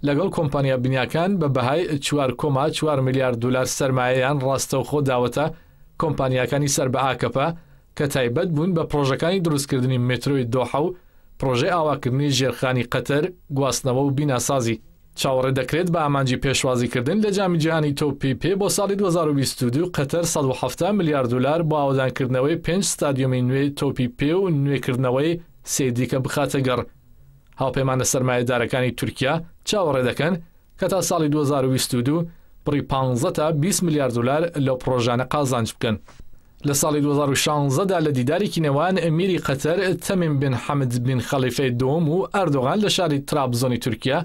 لەگەڵ کۆمپانیا بنیاکان بە بەهای چوار کۆما چوار ملیار دولار سەرمایەیان ڕاستەوخۆ داوەتە کۆمپانیاکانی سەر بە ئاکەپە کە تایبەت بوون بە پڕۆژەکانی دروستکردنی مترۆی دۆحە و پڕۆژەی ئاواکردنی ژێرخانی قەتەر، گواستنەوە و بیناسازی. چاوەڕێ دەکرێت بە ئامانجی پێشوازیکردن لە جامی جیهانی تۆپی پێ بۆ ساڵی دوو هەزار و بیست و دوو قەتەر سەد و حەفتا ملیار دولار بۆ ئاوەدانکردنەوەی پێنج ستادیۆمی نوێی تۆپی پێ و نوێکردنەوەی سێی دیکە بخاتە گەڕ. هاوپەیمانە سەرمایەدارەکانی تورکیا چاوەڕێ دەکەن کە تا ساڵی دوو هەزار و بیست و دوو بڕی پانزە تا بیست ملیار دولار لەو پڕۆژانە قازانج بکەن. لە ساڵی دوو هەزار و شانزە دا لە دیدارێکی نێوان ئەمیری قەتەر تەمیم بن حەمد بن خەڵیفەی دووەم و ئەردۆغان لە شاری ترابزۆنی تورکیا،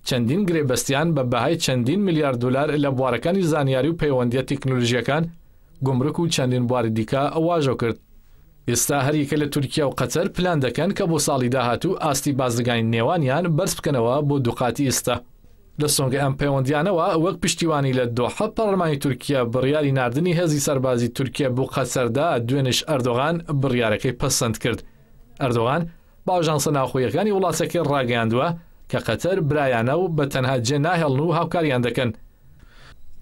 چەندین گرێبەستیان بە بەهای چەندین ملیار دولار لە بوارەکانی زانیاری و پەیوەندییە تیکنولوژییەکان، گومرک و چەندین بواری دیکە واژۆ کرد. ئێستا هەریەکە لە تورکیا و قەتەر پلان دەکەن کە بۆ ساڵی داهاتوو ئاستی بازرگانی نێوانیان بەرز بکەنەوە بۆ دووقاتی ئێستا. لە سۆنگەی ئەم پەیوەندییانەوە، وەک پشتیوانی لە دۆحە، پەڕڵمانی تورکیا بڕیاری ناردنی هێزی سەربازی تورکیا بۆ قەتەر دا، دوێنێش ئەردۆغان بڕیارەکەی پەسەند کرد. ئەردۆغان، بە ئاژانسە ناوخۆیەکانی وڵاتەکەی ڕاگەیاندووە کە قەتەر برایانە و بە تەنها جێ ناهێڵن و هاوکاریان دەکەن.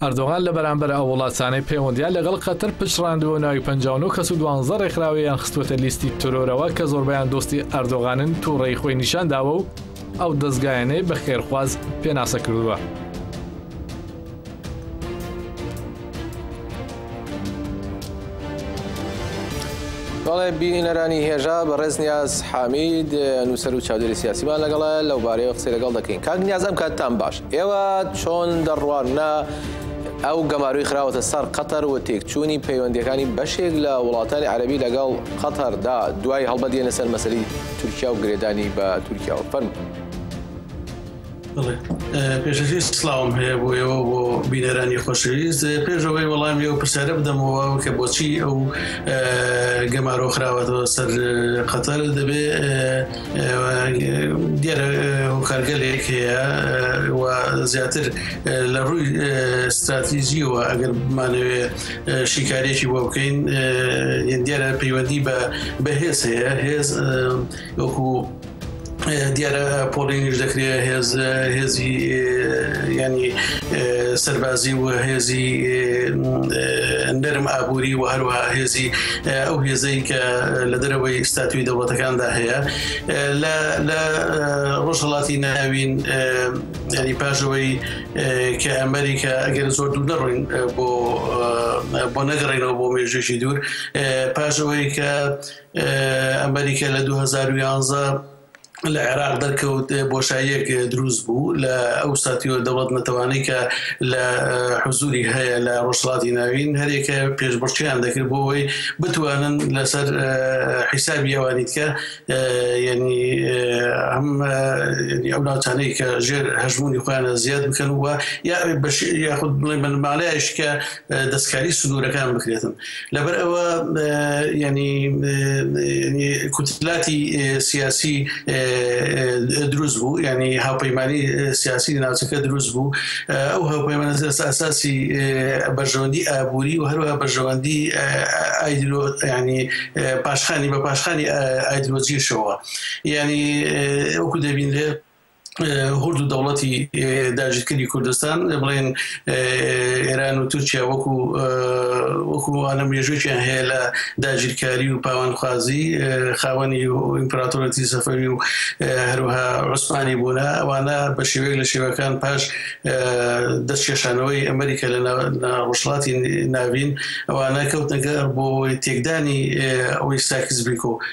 ئەردۆغان لە بەرامبەر ئەو وڵاتانەی پەیوەندیان لەگەڵ قەتەر پچڕاندووە ناوی پەنجا و نۆ کەس و دوانزە ڕێکخراویان خستووەتە لیستی ترۆرەوە کە زۆربەیان دۆستی ئەردۆغانن توڕەیی خۆی نیشان داوە و ئەو دەزگایانەی بە خێرخواز پێناسە کردووە. بەڵێ بینەرانی هێژا بە ڕێز نیاز حامید نووسەر و چاودێری سیاسیمان لەگەڵە لەو بارەیەوە قسەی لەگەڵ دەکەین کاک نیازم کاتتان باش ئێوە چۆن دەڕوانە ئەو گەماروی خراوەتە سەر قەتەر و تێکچوونی پەیوەندەکانی بەشێک لە وڵاتانی عەربی لەگەڵ قەتەردا دوای هەڵبەت دێنە سەر مەسەری تورکیا و گرێدانی بە تورکیاوە فەرم. پێشەکی سلااوم هەیە بۆ ئێوە بۆ بینەرانی خۆشەویست پێشەوەی وەڵامی ئەو پرسیارە بدەمەوە کە بۆچی ئەو گەمارۆ خراوەتەوە سەر قەتەر دەبێ دیارە هۆکارگەلێک هەیە و زیاتر لە ڕووی استراتیزیەوە ئەگەر بمانەوێ شیکارێکی بۆ بکەین دیارە پەیوەندی بە بەهێز هەیە هێز وەکو دیارە پۆڵێنیش دەکرێت هێز هێزی ینی سەربازی و هێزی نەرم ئابووری و هەروە هێزی ئەو هێزەی کە لە دەرەوەی ستاتوی دەوڵەتەکاندا هەیە لە ڕۆژهڵاتی ناوین ینی پاژەوەی کە ئەمریکا ئەگەر زۆر دوو نەڕۆین بۆ بۆ نەگەڕێنەوە بۆ مێژێکی دوور پاژەوەی کە ئەمەریکا لە دوو هەزار و یازدە لە عێراق دەرکەوت بۆشاییەک دروست بوو لە ئەو ساتیوە دەوڵەت نەتەوانەی کە لە حزوری هەیە لە ڕۆژهڵاتی ناوین هەرێکە پێشبڕکیان دەکرد بۆ ئەوەی بتوانن لەسەر حیسابی ئەوانی دیکە یعنی ئەم ئەو ناوچانەی کە ژێر هەژمونی خۆیانە زیاد بکەن و یا یاخود بڵێ بنەماڵەیش کە دەستکاری سنوورەکان بکرێتن لەبەر ئەوە یعنی کوتلاتی سیاسی دروست بوو یعنی هاوپەیمانی سیاسی ناوچەکە دروست بوو ئەو هاوپەیمانە ئەساسی بەرژەوەندی ئابووری و هەروە بەرژەوەندی ئایدرۆ ینی پاشخانی بە پاشخانی ئایدرۆجیشەوە یعنی ئەوکو دەبینرێت هورد و دەوڵەتی داژیکردی کوردستان بڵێن ئێران و تورکیا وەکو وەکووانە مێژووکیان هەیە لە داگیرکاری و پاوانخوازی خاوەنی و ئیمپراتۆرەتی سەفەوی و هەروها عوسمانی بوونە ئەوانە بە شێوەیەک لە شێوەکان پاش دەستکێشانەوەی ئەمریکا لە ڕۆژڵاتی ناوین ئەوانە کەوتنەگەر بۆ تێکدانی ئەوەی ساکس بیکۆ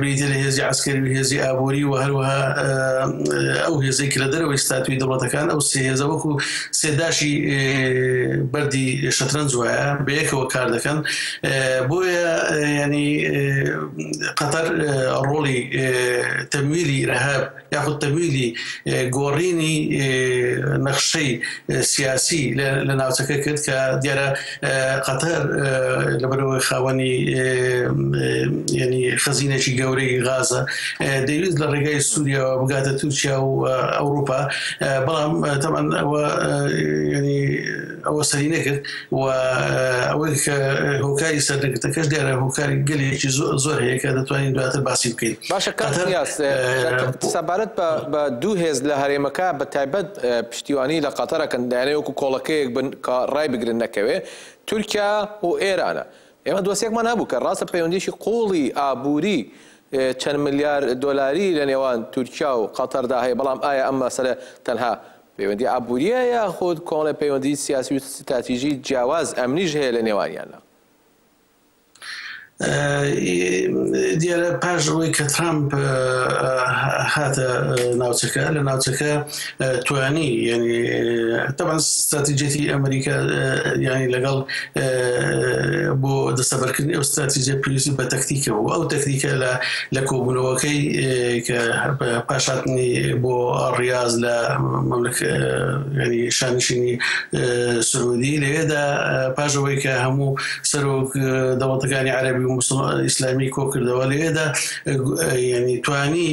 بریتیە لە هێزی عەسکەری و هێزی ئابووری و هەروەها ئەو هێزەی کە لە دەرەوەی ستاتوی دەوڵەتەکان ئەو سێ هێزە وەکو سێداشی بەردی شەترەنج وایە بەیەکەوە کار دەکەن بۆیە ینی قەتەر ڕۆڵی تەمویلی رەهاب یاخود تەگویلی گۆڕینی نەخشەی سیاسی لە ناوچەکە کرد کە دیارە قەتەر لەبەرەوەی خاوەنی ینی خەزینێکی گەورەی غازە دەویست لە ڕێگای سووریەوە بگاتە تورکیا و ئەوروپا بەڵام تەمان ئەوە ینی ئەوە سەری نەکرد و ئەوەی کە هۆکاری سەردەگرتەکەش دیارە هۆکاری گەلێکی زۆر هەیە کە دەتوانین دواتر باسی بکەین باشە کاتنیاز سەبارەت بە دوو هێز لە هەرێمەکە بە تایبەت پشتیوانی لە قاتەرەکەن دایانەیە وەکو کۆڵەکەیەک بن کە ڕای بگرن نەکەوێ تورکیا و ئێرانە ئێمە دۆسێکمان هەبوو کە ڕاستە پەیوەندیشی قوڵی ئابووری چەند ملیار دۆلاری لە نێوان تورکیا و قاتەردا هەیە بەڵام ئایا ئەم مەسەرە تەنها پەیوەندی ئابوورییە یاخود کۆمەڵێ پەیوەندی سیاسی و ستراتیژی جیاواز ئەمنیش هەیە لە نێوانیاندا؟ دیارە پاش ئەوەی کە ترامپ هاتە ناوچەکە لە ناوچەکە توانی ینی تەبان ستراتیجێتی ئەمریکا ینی لەگەڵ بۆ دەسەبەرکردنی ئەو ستراتیزیە پێویستی بە تەکتیکەوە و ئەو تەکتیکە لە لە کۆبوونەوەکەی کە پاشاتنی بۆ ڕاز لە ینی شانشینی سعودی لەوێدا پاشەوەی کە هەموو سەرۆک دەوڵەتەکانی عەربی و مسلمان ئیسلامی کۆکردەوە لەوێدا ینی توانی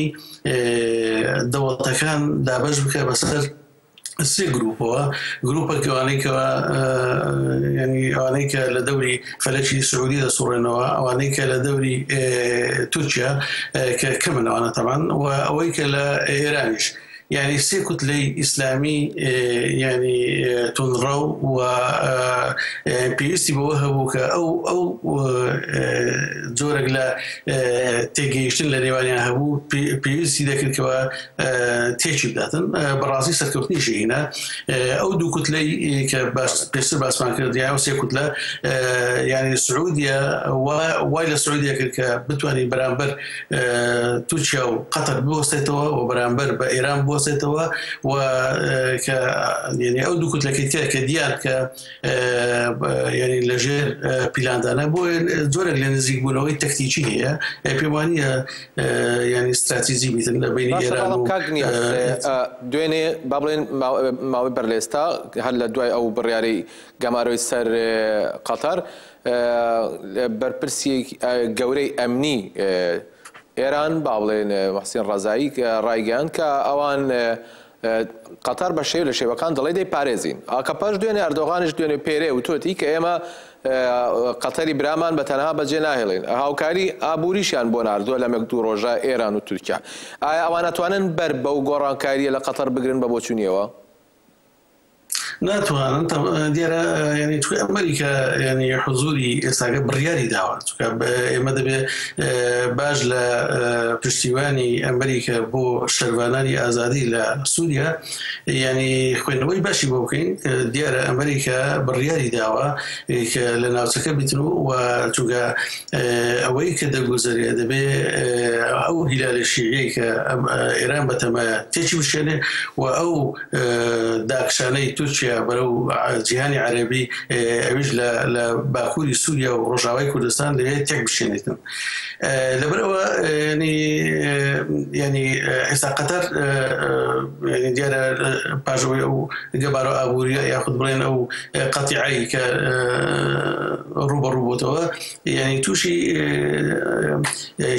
دەوڵەتەکان دابش بکە بەسەر سێ گروپەوە گروپەک ئەوانەی کە ینی ئەوانەی کە لە دەوری فەلەکی سعودی دەسوڕێنەوە ئەوانەی کە لە دەوری تورکیا کە کەمن ئەوانە تەمان و ئەوەی کە لە ئێرانیش ینی سێ کوتلەی ئیسلامی ینی تونڕە و پێویستی بەوە هەبوو کە ئەو ئەو جۆرەك لە تێگەیشتن لە نێوانیان هەبوو پێویستی دەکردکەوە تێکی بداتن بەڕاستی سەرکەوتنی ژینە ئەو دوو کوتلەی کە باش پێشتر باسمان کردیا و سێ کوتلە یعنی سعودیە وای لە سعودیە کرد کە بتوانین بەرامبەر تورکیا و قەتەر بوەستێتەوە و بەرامبەر بە ئێران بوەستێتەوە و کە یعنی ئەو دوو کوتلەکەی تێ کە دیار کە یعنی لەژێر پیلاندانە بۆ جۆرە لە نزیک بوونەوەی تەکتیکی هەیە پێوانە ینی استراتیزی بیتن لە بین دوێنێ با بڵێن ماوەی بەر لێستا هەر لە دوای ئەو بڕیارەی گەمارۆی سەر قەتەر بەرپرسی گەورەی ئەمنی ئێران با بڵێن وەحسین ڕزایی ڕایگەیان کە ئەوان قەتەر بە شێوە لە شێوەکان دەڵێ دەیپارێزین. ئاکەپەش دوێنێ ئەردۆغانیش دوێنێ پێرێ وتۆتی کە ئێمە قەتەری برامان بە تەنها بەجێ ناهێڵین. هاوکاری ئابووریشیان بۆ ناردووە لەمێک دوو ڕۆژە ئێران و تورکیا. ئایا ئەوان ئەتوانن بەر بەو گۆڕانکارییە لە قەتەر بگرن بە بۆچوونییەوە؟ ناتوانن تە دیارە یعنی چکە ئەمریکا یعنی حزوری ئێستاگە بڕیاری داوە چکە ئێمە دەبێ باش لە پشتیوانی ئەمریکا بۆ شەربانانی ئازادی لە سووریا یعنی خوێندنەوەی باشی بۆ بکەین دیارە ئەمریکا بڕیاری داوە کە لە ناوچەکە بیتن و و چونگە ئەوەی کە دەگوزەرێ دەبێ ئەو هیلالە شیعەی کە ئێران بەتەمایە تێکی بشێنێ و ئەو داکشانەی تورکیا بەرەو جیهانی عەرەبی ئەویش لە باکووری سووریا و ڕۆژاوای کوردستان لەوێ تێک بشێنێتن لەبەرەوە ینی ئێستا قەتەر دیارە پاژەوەی ئەو گەبارە ئابووری یاخود بڵێن ئەو قەتیعایی کە ڕوبەڕوبووتەوە یعنی تووشی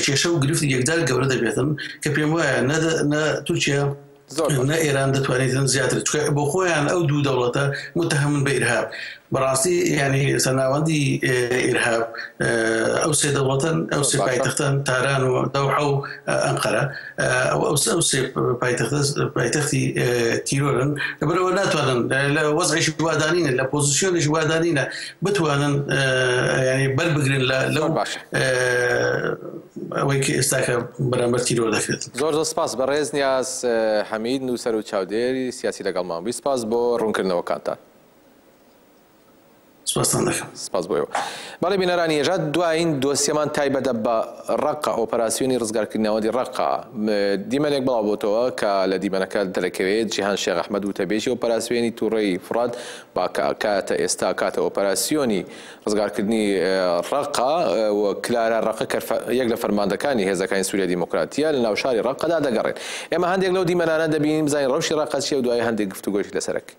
کێشە و گرفت یەکدار گەورە دەبێتن کە پێم وایە نە تورکیا زۆر باشە. نە ئێران دەتوانیت هەن زیاتر چکە بۆ خۆیان ئەو دوو دەوڵەتە متهمن بە ئیرهاب بەڕاستی یعنی ئێستا ناوەندی ئیرهاب ئەو سێ دەوڵەتەن ئەو سێ پایتەختەن تاران و دەوحە و ئەنقەرە ئەو ئەو ئەو سێ پایتەختە پایتەختی تیرۆرن لەبەرەوە ناتوانن لە وەزعیش وادانینە لە پۆزیسیۆنیش وادانینە بتوانن بەربگرن لە لەو ئەوەی کە ئێستا کە بەرامبەر تیرۆر دەکرێت. زۆر زۆر سپاس بەڕێز نیاز حەمید نووسەر و چاودێری سیاسی لەگەڵمان بووی سپاس بۆ ڕوونکردنەوەکانتان. سپاستان دەکەم. سپاس بۆ ئێوە. بەڵێ بینەرانی یەژا دوایین دۆسیەمان تایبەتە بە ڕەققە ئۆپەراسیۆنی ڕزگارکردنی ناوەندی ڕەققە. دیمەنێک بڵاو بۆتەوە کە لە دیمەنەکە دەرەکەوێت جیهان شێخ ئەحمەد وتەبێژی ئۆپەراسیۆنی توڕەی فوڕات با کە کاتە ئێستا کاتە ئۆپەراسیۆنی ڕزگارکردنی ڕەققە و کلارا ڕەقە کە یەک لە فەرماندەکانی هێزەکانی سوریای دیموکراتییە لەناو شاری ڕەققەدا دەگەڕێن. ئێمە هەندێک لەو دیمەنانە دەبینین بزانین ڕەوشی ڕەققە چییە و دوایی هەندێک گفتوگۆیشی لەسەر ئەکەین.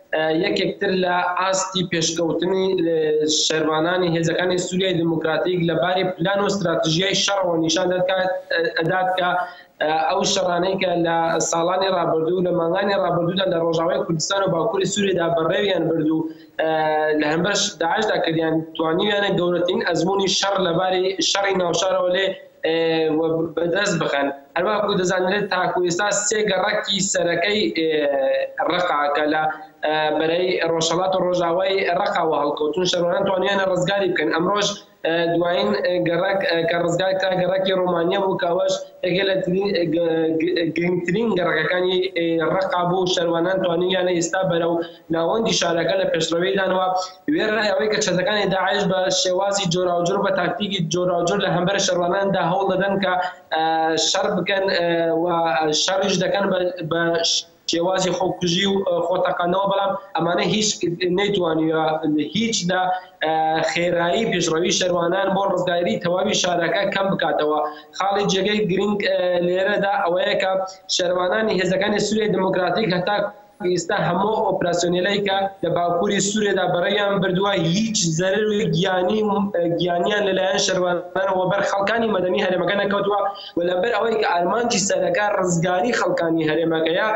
یەکێک تر لە ئاستی پێشکەوتنی شەرڤانانی هێزەکانی سووریای دیموکراتیک لە باری پلان و ستراتژیای شەڕەوە نیشان دەکات ئەدات کە ئەو شەڕانەی کە لە ساڵانی ڕابردوو لە مانگانی ڕابردوودا لە ڕۆژاوای کوردستان و باکووری سووریدا بەڕێویان برد و لە هەمبەر داعشدا کردیان توانیویانە گەورەترین ئەزموونی شەڕ لەباری شەڕی ناوشارەوە لێ و بەدەست بخەن، هەرواکو دەزانرێت تاکو ئێستا سێ گەڕەکی سەرەکەی ڕەقا کە لە بەرەی ڕۆژهەڵات و ڕۆژاوای ڕەقاوە هەڵکەوتون شەڕوانان توانیانە ڕزگاری بکەن ئەمڕۆژ دوایین گەڕەک کە ڕزگار کرا گەڕەکی ڕۆمانیە بوو کەوەش یەکێ لە گرنگترین گەڕەکەکانی ڕەقا بوو شەروانان توانیانە ئێستا بەرەو ناوەندی شارەکە لە پێشڕەویدان و وێڕای ئەوەی کە چەتەکانی داعش بە شێوازی جۆراوجۆر و بە تاکتیکی جۆراوجۆر لە هەمبەر شەڕڤاناندا هەوڵ دەدەن کە شەڕ بکەن و شەڕیش دەکەن بە شێوازی خۆکوژی و خۆتەقانەوە بەڵام ئەمانە هیچ نەیتوانیوە هیچ لە خێرایی پێشڕەوی شەروانان بۆ ڕزگاری تەواوی شارەکە کەم بکاتەوە خاڵی جێگەی گرنگ لێرەدا ئەوەیە کە شەروانانی هێزەکانی سووری دموکراتیک هەتا ئیستا هەموو ئەو ئۆپراسیۆنێلەی کە لە باکووری سووریەدا بەڕێیان بردووە هیچ زەرەرێ گیانی و گیانیان لە لایەن شەروارانەوە بەر خەڵکانی مەدەنی هەرێمەکە نەکەوتووە و لە بەر ئەوەی کە ئارمانجی سەرەکە ڕزگاری خەڵکانی هەرێمەکەیە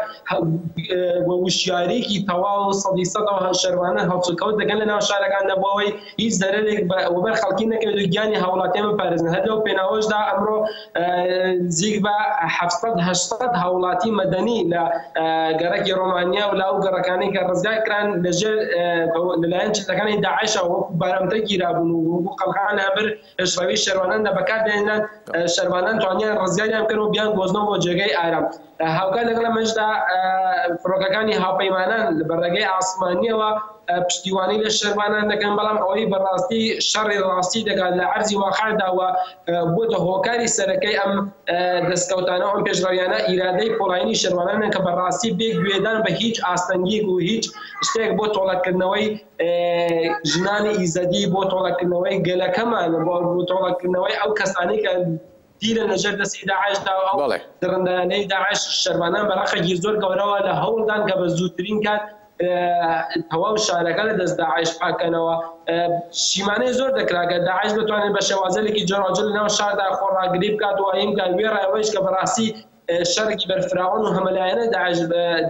و وشیاریەکی تەواو سەدی سەدەوە شەروانە هەڵسوکەوت دەکەن لە ناو شارەکاندا بۆ ئەوەی هیچ زەرەرێک بە وەبەر خەڵکی نەکەوێت و گیانی هاوڵاتیان بپارێزن هەر لەو پێناوەشدا ئەمڕۆ نزیک بە حەفت سەد هەشت سەد هاوڵاتی مەدەنی لە گەڕەکی ڕۆمانیا و لە ئەو گەڕەکانەی کە ڕزگار کران لەژێر لەلایەن چەتەکانی داعشەوە وەکو بارمتە گیرابوون و وەکو قەڵغان هەبر پێشڕەوی شەروانان لە بەکار داهێنان شەروانان توانیان ڕزگاریان بکەن و بیان گۆزنەوە بۆ جێگەی ئارام هاوکات لەگەڵ ئەمەشدا فڕۆکەکانی هاوپەیمانان بە ڕێگەی ئاسمانیەوە پشتیوانی لە شەروانان دەکەن بەڵام ئەوەی بەڕاستی شەڕی ڕاستی دەکات لە عەرزی واقعداوە بۆتە هۆکاری سەرەکەی ئەم دەستکەوتانەوە ئەم پێشڕەویانە ئیرادەی پۆڵایینی شەروانانە کە بەڕاستی بێ گوێدان بە هیچ ئاستەنگیک و هیچ شتێک بۆ تۆڵەکردنەوەی ژنانی ئیزەدی بۆ تۆڵەکردنەوەی گەلەکەمان و بۆ تۆڵەکردنەوەی ئەو کەسانەی کە دیلن لەژێر دەستی داعشدا و ئەو بەڵێ دڕندانەی داعش شەرڤانان بە ڕەقە گیر زۆر گەورەوە لە هەوڵدان کە بە زووترین کات تەواو شارەکە لە دەست داعش پاککەنەوە شیمانەی زۆر دەکرا کە داعش بتوانێت بە شێوازێکی جۆراوجۆر لەناو شاردا خۆڕاگری بکات و ئەوین کە وێڕای ئەوەیش کە بەڕاستی شەڕێکی بەرفراوان و هەمەلایەنە داعش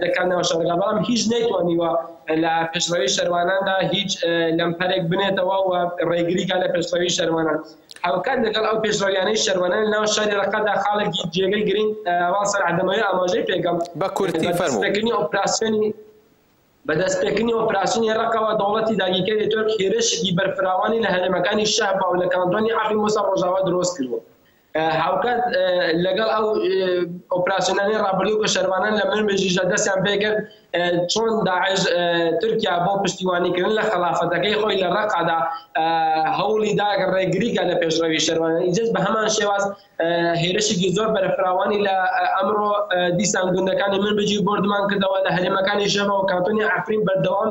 دەکات ناو شەڕەکە، بەڵام هیچ نەیتوانیوە لە پێشڕەوی شەرواناندا هیچ لەمپەرێک بنێتەوە و ڕێگری کات لە پێشڕەوی شەروانان. هاوکات لەگەڵ ئەو پێشڕەویانەی شەروانان لە ناو شاری ڕەققەدا خاڵێکی جێگەی گرنگ ئەوان سەلح دەمەوێت ئاماژەی پێکەم بە کورتی فەرموو. بەدەستپێکردنی ئۆپراسیۆنی بە دەستپێکردنی ئۆپراسیۆنی ڕەققەوە دەوڵەتی داگیرکەری تورک هێرشێکی بەرفراوانی لە هەرێمەکانی شەهبا و لە کانتۆنی عەفرین بۆ سەر ڕۆژاوا درۆست کردووە. هاوکات لەگەڵ ئەو ئۆپراسیۆنانەی ڕابردوو کە شەرڤانان لە منبجیشدا دەستیان پێ کرد چۆن داعش تورکیا بۆ پشتیوانیکردن لە خەڵافەتەکەی خۆی لە ڕەقادا هەوڵی دا ڕێگریکە لە پێشڕەوی شەرڤانان ئیجز بە هەمان شێواز هێرشێکی زۆر بەرفراوانی لە ئەمڕۆ دیسان گوندەکانی منبجی بۆردمان کردەوە لە هەرێمەکانی ژەمە و کانتۆنی عەفرین بەردەوام